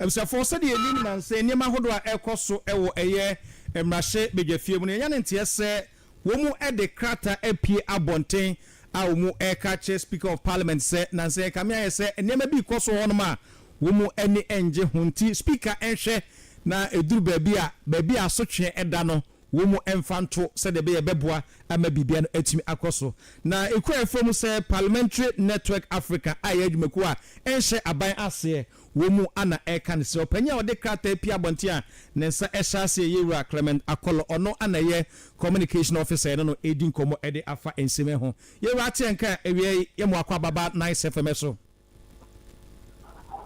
abusuafoɔ, sɛdeɛ yɛnim nnansa yi nneɛma ahodoɔ a ɛrekɔ so wɔ ɛyɛ mmarahyɛ badwafie mu no, yɛanya ne nteɛ sɛ Wɔde krataa apue abɔnten a wɔreka akyerɛ Speaker of Parliament sɛ Nancy Kame ayɛ sɛ nneɛma bi rekɔ so wɔ hɔnom a wɔn ani nnye ho nti Speaker nhwɛ na ɛduru baabi a, baabi a asotweɛ da no wɔn mfa nto sɛdeɛ ɛbɛyɛ ɛbɛboa ama biribiara no atumi akɔ so. Na ɛkura fam sɛ Parliamentary Network Africa a ɛyɛ adwumakuo a ɛnhyɛ aban aseɛ, wɔ mu a na ɛreka ne sɛ ɔpanyin a ɔde krataa pia abɔnten a ne nsa hyɛ ase yɛ Yewura Clement Akolo, ɔno na ɛyɛ Communication Officer ɛne no redi nkɔmmɔ de afa nsɛm yi ho. Yewura ate yɛn nka awia yi yɛ mo akɔ ababa Nice FM so.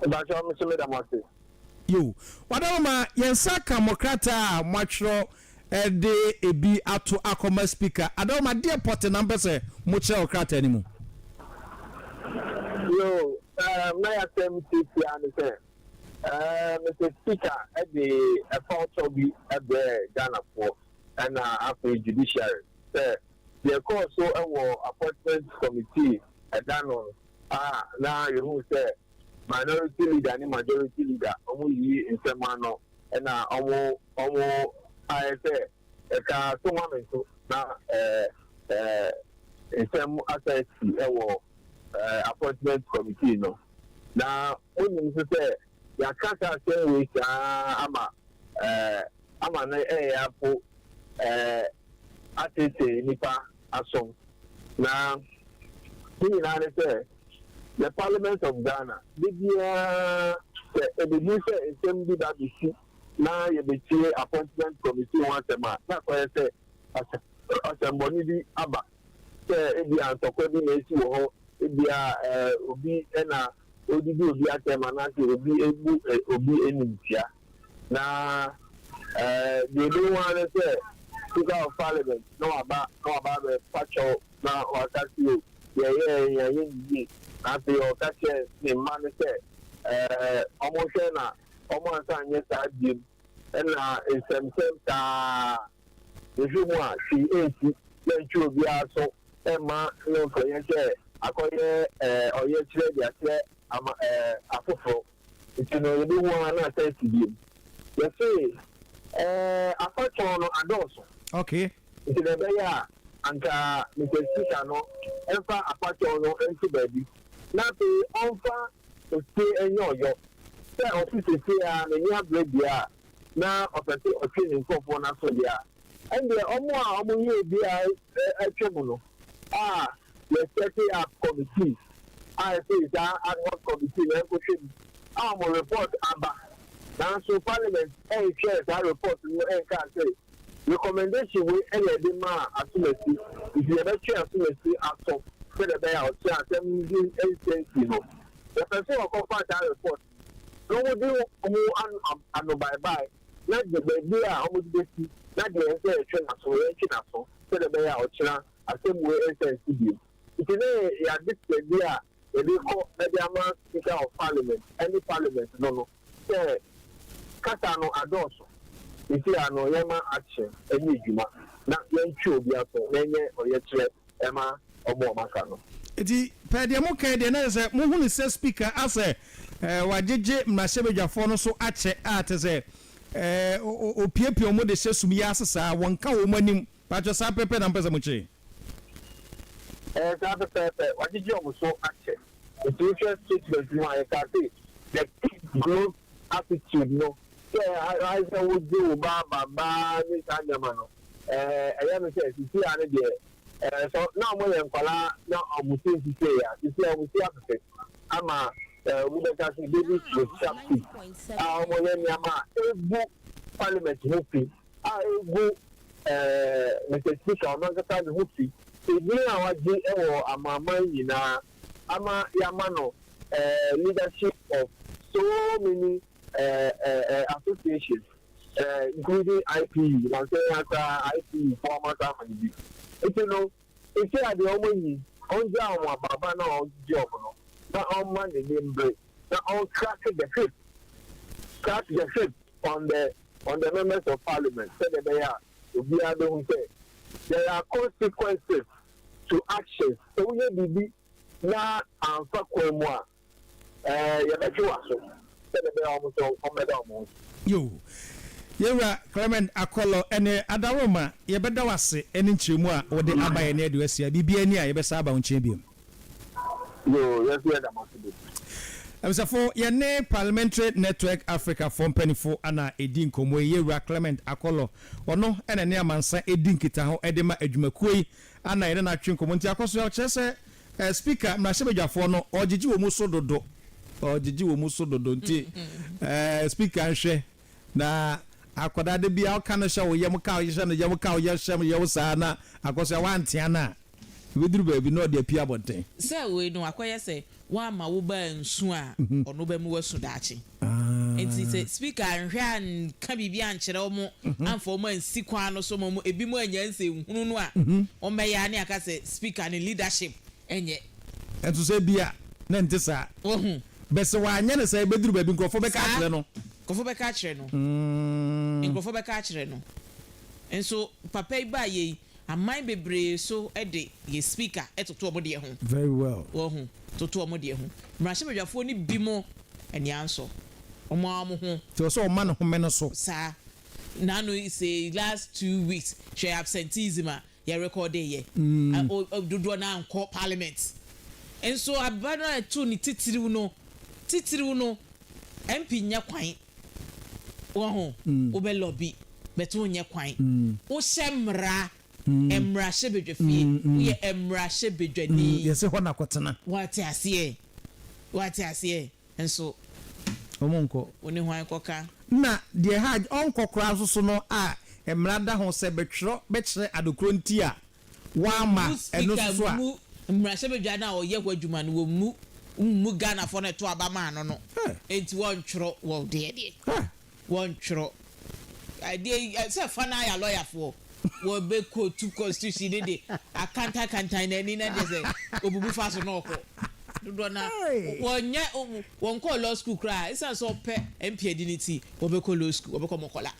Mpakyɛw, me nso meda mo ase. Yoo, wada mo ma yɛn nsa aka mo krataa a moatwerɛ de ebi ato akɔma Spika Adaom Adeɛ Pɔte na mpɛ sɛ mokyerɛ wɔ krataa no mu? Yoo, um, na yɛasɛm tiatia ne sɛ, um, Mister Spika de ɛfawtɔ bi brɛɛ Ghanafoɔ ɛna afei Judiciary sɛ deɛ ɛkɔɔ so wɔ Appointment Committee ɛda no a na yɛhuu sɛ Minority Leader ne Majority Leader wɔn yiyi nsɛm ano na wɔn wɔn ayɛ sɛ ɛka so ma me nso na ɛɛ ɛɛ nsɛm asa asi wɔ ɛɛ appointment committee no na wonim nso sɛ yɛaka saa asɛm wei saa ama ɛɛ ama no ɛyɛ apo ɛɛ atetee nipa asom na ne nyinaa ne sɛ. The Parliament of Ghana, Da biara sɛ ebeduru sɛ nsɛm bi ba besi na yebetie Appointment Committee ho asɛm a, na kɔyɛ sɛ asɛmmɔne bi aba, sɛ ebia ntɔkwa bi na asi wɔ hɔ, ebia obi na odidi obi atɛm anaasɛ obi abu obi animtia. Na deɛ ebehu ara ne sɛ Speaker of Parliament na waba na waba abɛfa kyɛw. Na ɔka se, Yɛyɛɛ ahiayɛ no yie. Na afei ɔka kyerɛɛ ne mma no sɛ, Ɛɛ, wɔnhwɛ na wɔansan nyɛ saa biom. Ɛnna nsɛmnsɛm taa mehwe mu a hwee ansi, yɛantwe obiara aso amma no mfa yɛn sɛ akɔyɛ ɔyɛkyerɛ de akyerɛ ama ɛɛ afoforo. Nti no yɛbɛhu ara na asan asi biom. Yɛse ɛɛ afatɔn no adɔɔso. Okay. Nti na ɛbɛyɛ a anka Mister Speaker no mfa afatɔn no nto baabi na afei ɔmfa osie nyɛ ɔyɔ sɛ ɔse sesie ara n'ani abre deɛ a na ɔpɛse ɔtwe ne nkorɔfoɔ no aso deɛ a ɛndeɛ ɔmo a ɔmo yɛ obiara atwam no a yɛ setting up committee a ɛfiri saa ad hoc committee no ɛnkɔhwɛ mu a wɔn report aba nanso parliament ɛnhwɛɛ saa report no ɛnkaa sɛ recommendation wei ɛna ɛde maa asomasi nti yɛbɛtwe asomasi aso sɛdeɛ ɛbɛyɛ a ɔkyerɛ asɛm din ɛnsɛnsi no yɛpɛ sɛ wɔkɔfa saa report no wɔdi ho anobaebae. na gye baabi a wɔde besi, na deɛ ɛsɛ sɛ yɛtwe n'aso no, yɛntwe n'aso, sɛdeɛ ɛbɛyɛ a ɔkyena asɛm wei nsan nsi bio. Nti na yɛn adesoa bi a yɛde kɔ de ama Speaker of Parliament ne Parliament no no sɛ kasa no adɔɔso. Seesei ara no, yɛma action nyɛ adwuma, na yɛntwe obi aso, na ɛnyɛ ɔyɛkyerɛ ɛma ɔmo a ɔmo aka no. Nti pɛɛ deɛ mo kae deɛ na kyɛ sɛ mo hunu sɛ speaker asɛ wagyegye mmarahyɛbadwafoɔ no so akyɛ a kyɛ sɛ opiapia ɔmo de hyɛ sum yi ase saa wɔn ka ɔmo anim paatwɔ saa pɛpɛ na mo pɛ sɛ mo kye. Ɛyɛ saa pɛpɛɛpɛ wagyegye ɔmo so akyɛ nti wo hwɛ statement no a yɛ kaa se the pick growth attitude no sɛ ayɛ sɛ wo gye wo ba aba baa ne saa nneɛma no. Ɛɛ, ɛyɛ me sɛ sisi a no deɛ, ɛɛ, sɛ na wɔyɛ nkwadaa na wɔn ti nsi sei a, sisi a wɔn ti afefɛ ama ɛɛ, wobɛka sɛ babies with sharp teeth a wɔyɛ nneɛma a ɛgu parliament ho fi, a ɛgu ɛɛ, Mister Speaker, ɔno ankasa ne ho fi, edin a wagye wɔ amanaman nyinaa ama yɛama no ɛɛ, leadership of so many ɛɛ, ɛɛ, ɛɛ, associations. eh, including IPU, na nkyɛ yɛn koraa IPU foɔ ama saa amane bi. Nti no, sisi a deɛ wɔn yi, ɔngyaa wɔn abaaba no a ɔgyegye wɔn no, na ɔmma n'ani mbere, na ɔncrack the whip, crack the whip on the on the members of parliament, sɛdeɛ ɛbɛyɛ a obiara bɛhu sɛ there are consequences to actions. Sɛ woyɛ biribi na amfa kwan mu a, Ɛɛ, yɛbɛtwe w'aso. Sɛdeɛ ɛbɛyɛ a wɔn nso wɔmmɛda wɔn ho adi. Yoo. Yɛn Wura Clement Akɔlɔ ne Adaroma, yɛbɛda wo ase ne nkyerɛmu a wode aba yɛn nnɛ de woasia biribiara ni a yɛbɛsan aba wo nkyɛn bio. Yoo, yɛn nso yɛda mo ase bebree. Abisafo, yɛne Parliamentary Network Africa foɔ mpanyinfo na ɛredi nkɔmmɔ yi. Yɛn Wura Clement Akɔlɔ, ɔno na ɛne amansa ɛredi nkitaho de ma adwumakuo yi na yɛne no atwe nkɔmmɔ. Nti akɔ so kyerɛ sɛ Eh speaker mmarahyɛbadwafoɔ no ɔgyegye wɔn so dodo ɔgyegye wɔn so dodo nti eh speaker nhwɛ na akwadaa de bia ɔka no hyɛ wo yam ka hyɛ no yam ka yɛ hyɛ yɛ wo saa na akɔsɛ wantea no a ebeduru baabi na ɔde apia abɔnten. Sɛ wei no akɔyɛ sɛ wamma wo ba ansu a ɔno bɛma wasu daakye. Enti sɛ Speaker anhwɛ anka biribi ankyerɛ wɔn amfa wɔn ansi kwan no so ma wɔn ebinom annya nsɛnhunu no a, wɔbɛyɛ ara ne aka sɛ Speaker no leadership nyɛ. Nanso sɛ ebia na ɛnte saa. Wahu? But sɛ wanyɛ no saa a, ebeduru baabi nkurɔfoɔ bɛka Saa. akyerɛ no. Nkurɔfoɔ bɛka akyerɛ no. Nkurɔfoɔ bɛka akyerɛ no. Nso papa yi baayɛ yi, Aman bebree so de yɛ speaker toto ɔmo deɛ ho. Very well. Wahu? Toto ɔmo deɛ ho. Mmarahyɛbadwafoɔ no bi mo ani ansɔ ɔmo ara ɔmo ho. Nti ɔsɛ ɔma ne home no so. Saa. Naano sei last two weeks hwɛ absenteeism a yɛ recorde yɛ. Ɛ dodoɔ no ara nkɔ parliament. Nso aba no a ɛtoo ne titiriw no, titiriw no MP nnya kwan. Wahu? Wobɛ lɔbi, but wonyɛ kwan. Wohyɛ mmara, mmarahyɛbadwafie, woyɛ mmarahyɛbadwani. Yɛse hɔ na kɔtena. Woate aseɛ? Woate aseɛ? Nso. Ɔmo nkɔ. Wo ne hwan kɔka? Na deɛ ɛha ɔnkɔ koraa nso so no a mmara da ho sɛ bɛtwerɛ bɛkyerɛ adekorɔ nti a Wamma Mmu ɛno speaker nso so a. mmu mmarahyɛbadwa no a ɔyɛ hɔ adwuma no wɔ mmu mmu Ghanafoɔ no a ɛto aba maa no no Hɛ! nti wɔntwerɔ wɔn deɛ deɛ Hɛ! wɔntwerɔ adeɛ yi ɛ sɛ fa no ara yɛ alɔyafoɔ wɔbɛ kootu constitution no de akantan kantan no ani na kyerɛ sɛ ɔbubu fa so na ɔkɔ dodoɔ no ara Ei! wɔnyɛ wɔnkɔɔ law school koraa ɛsiane sɛ ɔpɛ MP adi no nti wɔbɛkɔ law school wɔbɛkɔ mɔkɔla.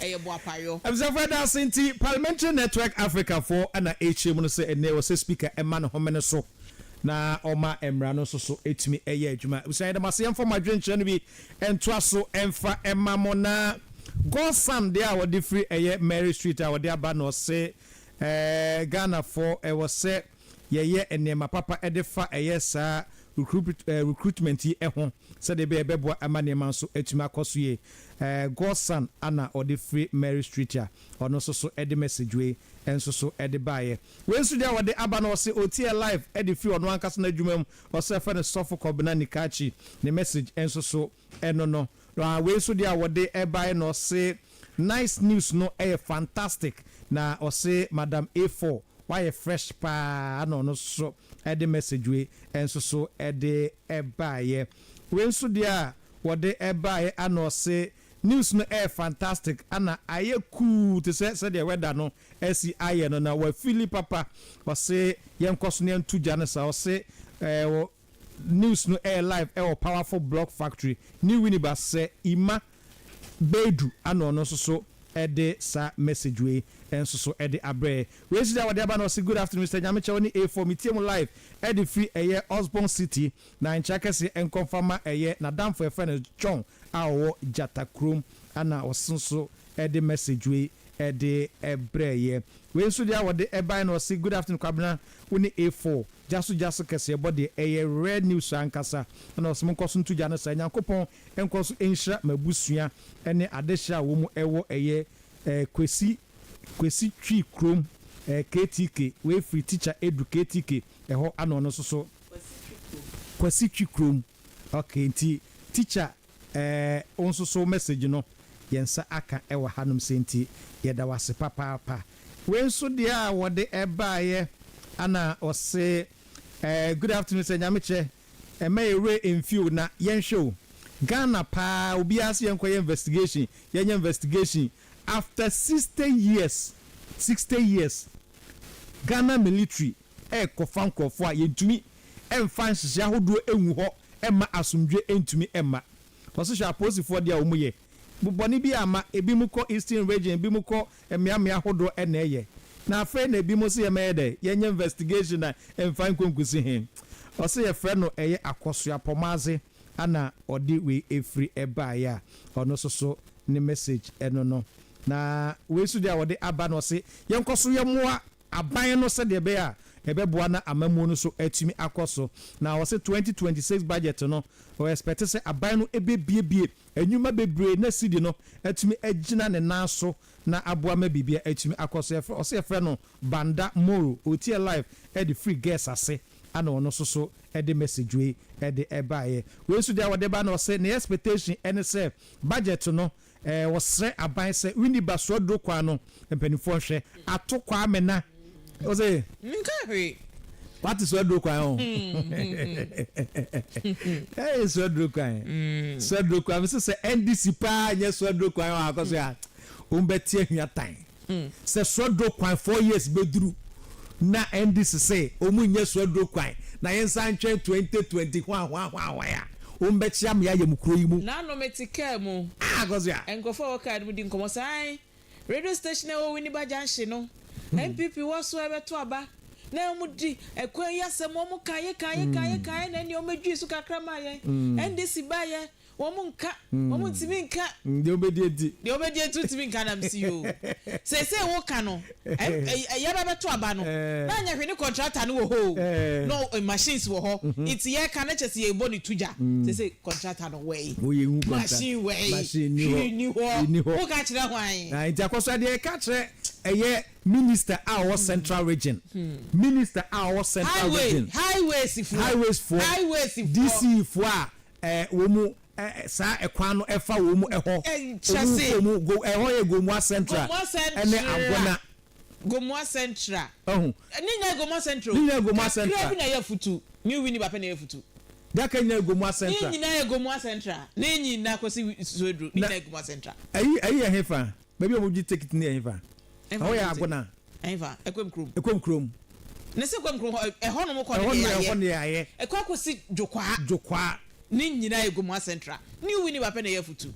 ɛyɛ boapayɔ. Abusuafo ɛda ase nti Parliamentary Network Africa fo na ɛrekyerɛ mu no sɛ ɛnnɛ ɛwɔ sɛ Speaker ɛma ne homene so na ɔma mmara no nso so ɛtumi ɛyɛ adwuma. Abusua yɛda mo ase yɛmfa mo adwenkyerɛ no bi ntoa so ɛmfa ɛma mo na God son deɛ a wɔde firi ɛyɛ Mary Street a wɔde aba no ɔse ɛɛ Ghana fo ɛwɔ sɛ yɛyɛ nneɛma papa de fa ɛyɛ saa recruitment yi ho sɛdeɛ ɛbɛyɛ ɛbɛboa ama nneɛma nso atumi akɔ so yie. Godson Anna ɔde firi Mary Street a ɔno nso so de message wei nso so de baeɛ. Wei nso deɛ ɔde aba no ɔse ɔtiɛ live de firi ɔno ankasa n'adwuma mu, ɔse yɛfrɛ no Sɔfo Kɔbena Nikakyi, ne message nso so Ɛno no, na wei nso deɛ a wɔde baeɛ no, ɔse nice news no yɛ fantastic, na ɔse Madam A4 wayɛ fresh paa na ɔno nso so de message wei nso so de baeɛ. Wei nso deɛ a wɔde baeɛ a na ɔse news no yɛ fantastic na ayɛ cool te sɛ sɛdeɛ weather no asi ayɛ no na wafeeli papa. Ɔse yɛnkɔ so na yɛnto gya no saa, ɔse News no ɛyɛ live ɛwɔ powerful blog factory ne Winneba sɛ Ima Baidu ana ɔno nso so ɛde saa message wei nso so ɛde abrɛ yɛ. Wei nso deɛ wɔde aba no ɔse Good afternoon Mister Nyamekyɛ wo ne A4 metie mo live ɛde firi ɛyɛ Osborn City na nkyea kɛseɛ nkɔ mfa ma ɛyɛ nadamfo yɛfrɛ no John a ɔwɔ Gyata kurom ana ɔse nso ɛde message wei ɛde brɛ yɛ. Wei nso deɛ a wɔde ɛbae no ɔse good afternoon Kwabena wo ne A4 gya so gya so kɛseɛ bɔ deɛ ɛyɛ rare news ankasa ɛna ɔse monkɔ so nto gya no saa Nyankopɔn nkɔ so nhyira m'abusua ne adehyeɛ a wɔn wɔ ɛyɛ eh Kwesi Kwesi Twi kurom eh KTK wei firi teacher Edu KTK ɛhɔ ɛna ɔno nso so Kwasi Twi kurom Kwasi Twi kurom ok nti teacher. Ɛɛ, wo nso so wo message no yɛn nsa aka wɔ hanom sɛ nti yɛda wo ase papaapa. Wei nso deɛ a wɔde baeɛ ana ɔse ɛɛ good afternoon sɛ Nyame kyɛ ɛmma yɛn werɛ ɛmfi o na yɛnhwɛ o Ghana paa obiara se yɛnkɔ yɛ investigation yɛnyɛ investigation after sixty years sixty years Ghana military ɛɛkɔfa nkorɔfoɔ a yɛntumi ɛmfa nhyehyɛ ahodoɔ ɛngu hɔ. ɛmma asomdwoe ntumi mma. Kɔ so hwɛ apolisifoɔ deɛ a wɔyɛ. Bu bɔne bi a ma ebinom kɔ Eastern Region, ebinom kɔ mmeammea ahodoɔ na ɛyɛ. Na afei na ebinom se yɛmmɛyɛ dɛn? Yɛnyɛ investigation na ɛmfa nkɔ nkusi he? Ɔse yɛfrɛ no ɛyɛ Akɔsoa Pɔmadze na ɔde wei firi baeɛ a ɔno nso so ne message no no. Na wei nso deɛ a ɔde aba no ɔse yɛnkɔ so yɛmmoa aban no sɛdeɛ ɛbɛyɛ a ɛbɛboa na amammuo no so atumi akɔ so. Na wɔse twenty twenty six budget no wɔ expect sɛ aban no ɛbɛbuebue nnwuma bebree na cedi no atumi agyina ne nan so na aboa ma biribiara atumi akɔ so. Yɛfrɛ ɔse yɛfrɛ no Banda Moro, ɔretie live ɛde firi Gers ase ɛna ɔno nso so ɛde message wei ɛde ɛbaeɛ. Wei nso deɛ a ɔde ba no ɔse ne expectation ɛne sɛ budget no Wɔsrɛ aban sɛ Winneba Suaduro kwan no mpaninfoɔ nhwɛ ato Kwame na ɔse. Nka hwee. Wate Suaduro kwan ho? Hey Suaduro kwan. Suaduro kwan. Mese sɛ NDC paa nyɛ Suaduro kwan wɔ ha kɔ so a, wɔn bɛte ahwia tan. Sɛ suaduro kwan four years bɛduru na ɛndi sesei ɔmu nyɛ suaduro kwan na yɛnsan ntwɛn twenty twenty hwaahwaahwaahwae a wɔn bɛkyea mmea yɛ mo kuro yi mu. Nano mete car mu. Ah Akosua. Nkurɔfoɔ a ɛwɔ car no mu di nkɔmmɔ sɛ ae, radio station a ɛwɔ Winneba Junction no, NPP wɔ so a ɛbɛto aba, na wɔn di ɛkwan yi asɛm, wɔn kaeɛ kaeɛ kaeɛ kaeɛ na ɛnneɛ wɔn bɛdwiri so kakra maa yɛn, NDC baeɛ, Wɔn nka, wɔn ntumi nka. Mm, deɛ wobɛdi adi. Deɛ wobɛdi adi wontumi nka nam si yoo. Seesei woka no, ɛɛ, yɛba bɛto aba no, na anyɛ hwee ne kɔntrata no wɔ hɔ oo, na machines wɔ hɔ, nti yɛka no kyerɛ sɛ yɛrebɔ no tu gya. Seesei kɔntrata no wɛi, machine wɛi, hwee nni hɔ, woka kyerɛ hwan? Na nti akɔ so a, deɛ yɛka kyerɛ ɛyɛ minister a ɔwɔ central region, minister a ɔwɔ central region, highways foɔ, highways foɔ, highways foɔ, DC foɔ a wɔn saa ɛkwan no ɛfa wɔn ɛhɔ ɔmu kɔ ɔmu go ɛhɔ yɛ Gomoa central ɛne Agona. Gomoa central ɔho ne nyinaa yɛ Gomoa central ne nyinaa yɛ Gomoa central kakra bi na ɛyɛ futu new wini ba pɛ na ɛyɛ futu daka nyinaa yɛ Gomoa central ne nyinaa yɛ Gomoa central ne nyinaa kɔsi sueduro ne nyinaa yɛ Gomoa central. Ɛyi ɛyi yɛ hefa. Baabi a wɔgye tekiti no yɛ hefa? Sɛ woyɛ Agona. Ɛhefa? Ɛkwam kurom. Ɛkwam kurom. Na sɛ ɛkwam kurom hɔ, ɛhɔnom kɔ no deɛ yɛayɛ. Ɛhɔ deɛ yɛayɛ. Ɛkɔ akɔsi Dwokwaa. Dwokwaa. Ne nyinaa yɛ Gomoa Central. New Winneba pɛ na ɛyɛ afutu.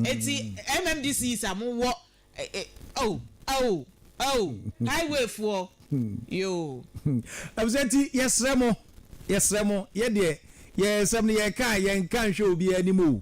Enti MMDCs a mowɔ oh, oh, oh, highway foɔ, yoo. Ɛfisɛ nti yɛsrɛ mo, yɛsrɛ mo, yɛ deɛ, yɛn nsɛm no yɛka a, yɛnka nhwɛ obiara anim o.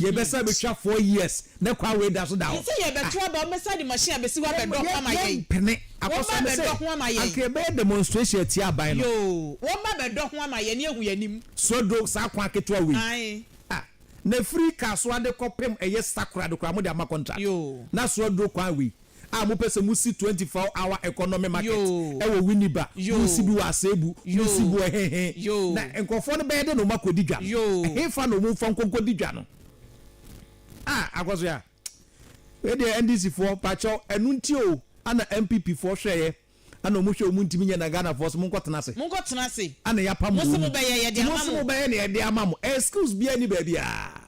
Yɛ bɛ sa bɛ twa four years nɛ kwa wei da so da hɔ. Yɛ sɛ yɛ bɛ to aba ɔmɛ sa de machine a bɛ si hɔ abɛ dɔ ho ama yɛn. Yɛ mpene akɔ so ɔmɛ sɛ anka yɛ bɛ yɛ demonstration atia aban no. Yoo wɔn ba bɛ dɔ ho ama yɛn ne yɛ hu yɛ anim. So do saa kwan ketewa wei. Ae. Ah na firi car so ade kɔ pem ɛyɛ sakora de koraa mo de ama contract. Yoo. Na so do kwan wei. a mopɛ sɛ mosi twenty four hour economy market wɔ Winneba, mosi bi wɔ Asebu, mosi bi wɔ he he, na nkurɔfoɔ no bɛyɛ dɛ na wɔn akɔdi dwa no? Hefa na wɔn mfa nkɔ nkɔdi dwa no? Ah Akosua, wei deɛ NDC foɔ, mpakyɛw, ɛno nti o ana NPP foɔ hwɛeɛ. Ɛna ɔmo hwɛ ɔmo ntumi nyɛ na Ghana foɔ se monkɔ tena ase. Monkɔ tena ase. Ɛna yɛapam wɔn mu. Mose mo bɛyɛ yɛde ama mo. Mose mo bɛyɛ na yɛde ama mo. Excuse biaa ni baabiaa.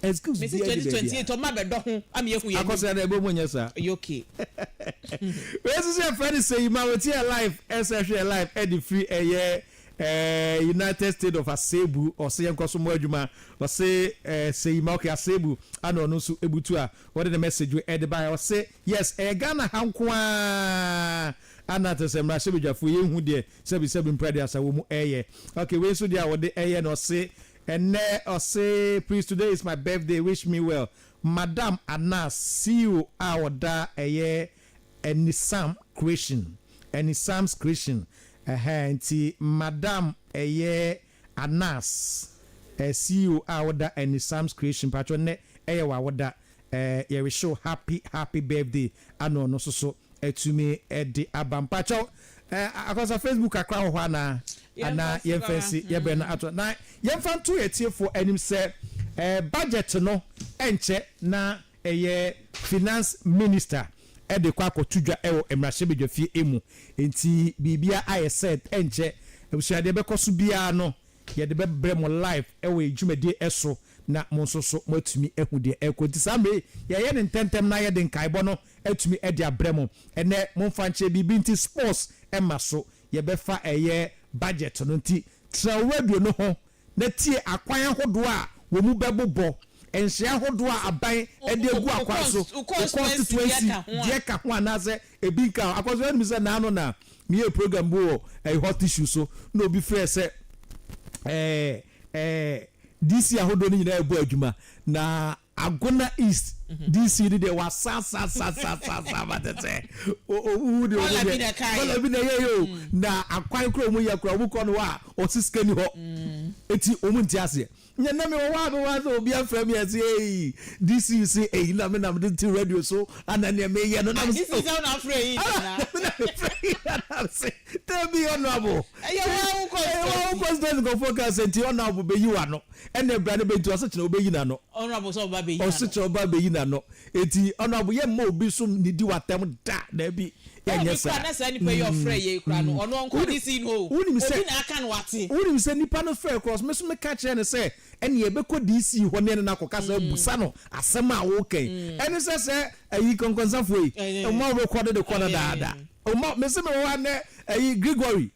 Excuse biaa ni baabiaa. Mese 2028 ɔmo abɛdɔ ho ama yɛahu yɛn anim. Akɔsra na ɛbɔ mu nyɛ saa. Ɛyɛ okay. Wei nso sɛ yɛfrɛ no Seyi ma wotie yɛ live ɛsɛ hwɛ yɛ live ɛde firi ɛyɛ eh, United State of Asebu ɔse yɛnkɔ so mmɔ adwuma ɔse eh, Seyi ma okay Asebu ana ɔno nso ɛbutu a ɔde ne message wei ɛde baeɛ ɔse Yes ɛyɛ Ghana ha nko ara a na te sɛ mmarahyɛbadwafoɔ yɛ nhu deɛ sɛbi sɛbi mprade asa wɔ mu ɛyɛ ok wei nso deɛ a wɔde ɛyɛ no ɔse ɛnɛ ɔse please today is my birthday wish me well madam anaa ceo a ɔda ɛyɛ anisam creation anisam's creation ɛhɛɛ nti madam ɛyɛ Anas, eh, CEO a woda ɛni Sam's creation mpakyɛw nnɛ ɛyɛ w'awoda eh, yɛrehyɛ wo happy happy birthday ana ɔno nso so atumi de aba mpakyɛw eh, Akwansah Facebook kakra wɔ hɔ anaa? Ana yɛmfa nsi yɛbrɛ no ato na yɛmfa nto atiefoɔ anim sɛ eh, budget no ɛnkyɛ na Ɛyɛ finance minister de kɔ akɔto dwa wɔ mmarahyɛbadwafie mu nti biribiara ayɛ set ɛnkyɛ abusua deɛ ɛbɛkɔ so biara no yɛde bɛbrɛ mo live wɔ yɛn dwumadie so na mo nso so moatumi ahu deɛ ɛrekɔ nti saa mmerɛ yi yɛyɛ no ntɛntɛm na yɛde nkaebɔ no atumi de abrɛ mo ɛnɛ momfa nkyɛ biribi nti sports mma so yɛbɛfa ɛyɛ budget no nti tra wo radio no ho na tie akwan ahodoɔ a wɔn mu bɛbobɔ, nhyɛ ahodoɔ a aban de agu akwan so, wo constituency deɛ ka ho anaasɛ ebi nka ho. Akɔso woanim sɛ naano na meyɛɛ program bi wɔ ɛyɛ hot issue so na obi frɛɛ sɛ ɛɛ ɛɛ DC ahodoɔ no nyinaa ɛbɔ adwuma na Agona East DC no deɛ wɔasasasasasa ma te sɛ wohu deɛ wɔn deɛ kɔla bi na ɛyɛ yɛ o na akwan kora wɔn yɛ kora wɔn kɔ no hɔ a ɔsi sika ni hɔ eti wɔn nti aseɛ nyɛ na mi wɔ hɔ a mi wɔ ase obi afra mi ɛsi eyi DC si eyi na mi na mi de ti radio so ana nea mi yɛ no na mi si o ɛna mi na mi fɛ yi na na mi si tɛbi ɔnɔbo ɛyɛ wɔn awokɔ sitɛnti nkɔfo kan sɛ nti ɔnɔbo bɛ yi wa no. Ɛnna bra no bɛgyina ɔsekyerɛ ɔbɛyi n'ano. Honourable sɛ ɔba bɛyi n'ano. Ɔsekyerɛ ɔba bɛyi n'ano. Enti Honourable yɛmma obi nso nnidi w'atɛm da, daabi, yɛnyɛ saa. Ɛwɔ me koraa na saa nipa yi a ɔfrɛɛ yɛn yi koraa no, ɔno ɔnkɔ DC yi no o, obi na aka no wate. Wonim sɛ nipa no frɛɛ koraa ɔse, me nso meka kyerɛɛ no sɛ ɛnneɛ yɛbɛkɔ DC hɔ ne yɛne no akɔka sɛ abusa no asɛm a woka yi. Ɛne sɛ sɛ ayi Kɔnkɔnsafoɔ yi, mma wo rekɔdo de kɔ no daadaa. Mma, mese mewɔ hɔ ha nnɛ, ayi Gregory.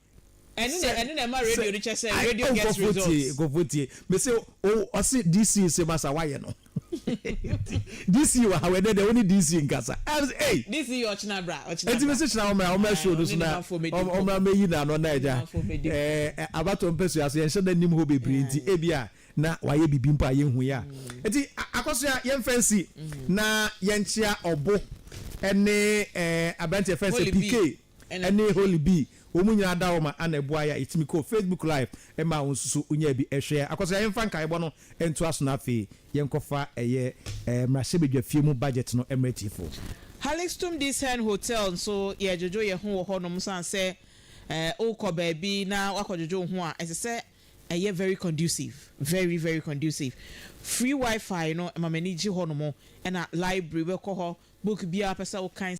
Ɛno na ɛno na ɛma radio no kyɛ sɛ radio gets results. Nkɔfo tie me se o ɔse DC se masa wayɛ no DC wɔ ha wɔ ɛdɛ dɛ wo ne DC nkasa ɛy. DC yɛ ɔkyena bra ɔkyena bra. Eti me se kyena wɔmra wɔmra show no so na wɔmra mɛyi na ano na ɛgya ɛɛ abatɔ mpɛsua so yɛnhyɛ da nim hɔ bebree nti ebi a na wayɛ bibi mpo a yɛnhu yɛ a eti akɔsoa yɛnfɛ nsi na yɛnkyea ɔbo ɛne ɛɛ aberanteɛ fɛn sɛ PK. Ɛne Holly B. Wɔn nyinaa da hɔ ma Anna buae a etumi kɔɔ Facebook Live. Ɛmma wo nso so wunyaa bi hwɛɛ. Akwasoa, yɛmfa nkaebɔ no ntoa so na afei yɛnkɔfa ɛyɛ mmarahyɛbadwafie mu budget no mmrɛ atiefo. Hallingstum Dis Hern Hotel nso, yɛredwodwo yɛn ho wɔ hɔnom esiane sɛ wokɔ baabi na woakɔdwodwo wo ho a, ɛsɛ sɛ ɛyɛ very conducive, very, very conducive. Free Wi-Fi no, ɛma m'ani gye hɔnom, ɛnna library, wobɛkɔ hɔ, book biara a wopɛ sɛ wokan,